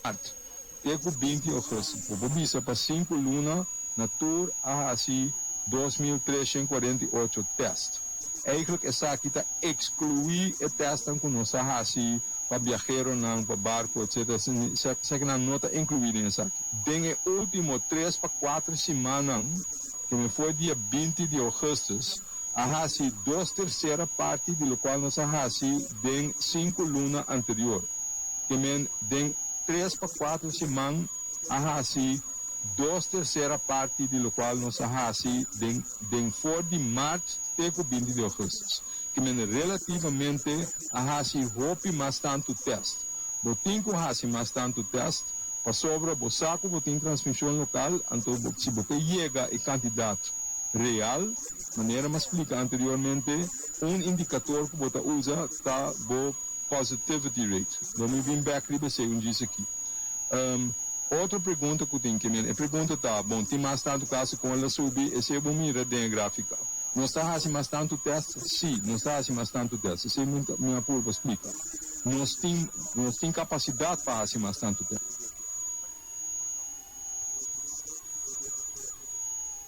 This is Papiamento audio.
Art. Ke ku binti ofresi? Bo por bisa pa sinku luna na tur a hasi dos mil treshent kuarenta i ocho tèst. Eigentlik esaki ta ekskluí e tèstnan ku nos a hasi pa biaheronan, pa barku, etsetera, esaki nan no ta inkluí den esaki. Den e último tres pa kuater simannan, kende for dia binti di ougùstus a hasi dos tersera parti di lokual nos a hasi, den sinku luna anterior. Te men den tres pa kuater siman a hasi dos tersera parti di lokual nos a hasi den den for di mart te ku binti di ougustus. Te men relativamente a hasi hopi mas tantu test. Bo tin ku hasi mas tantu test pasobra bo sa ku bo tin transmision lokal, anto si bo ta yega e kantidat real Manera m'a splika anteriormente, un indikator ku bo ta usa ta bo positivity rate. Lo mi bin bek riba esei un djis aki. Otro pregunta ku tin ke mira, e pregunta ta, bon, tin mas tantu kasa kon el a subi? Esei bo mira den e grafika. Nos ta hasi mas tantu tèst? Sí, nos ta hasi mas tantu tèst. Esei mi a purba splika. Nos tin, nos tin kapasidat pa hasi mas tantu tèst.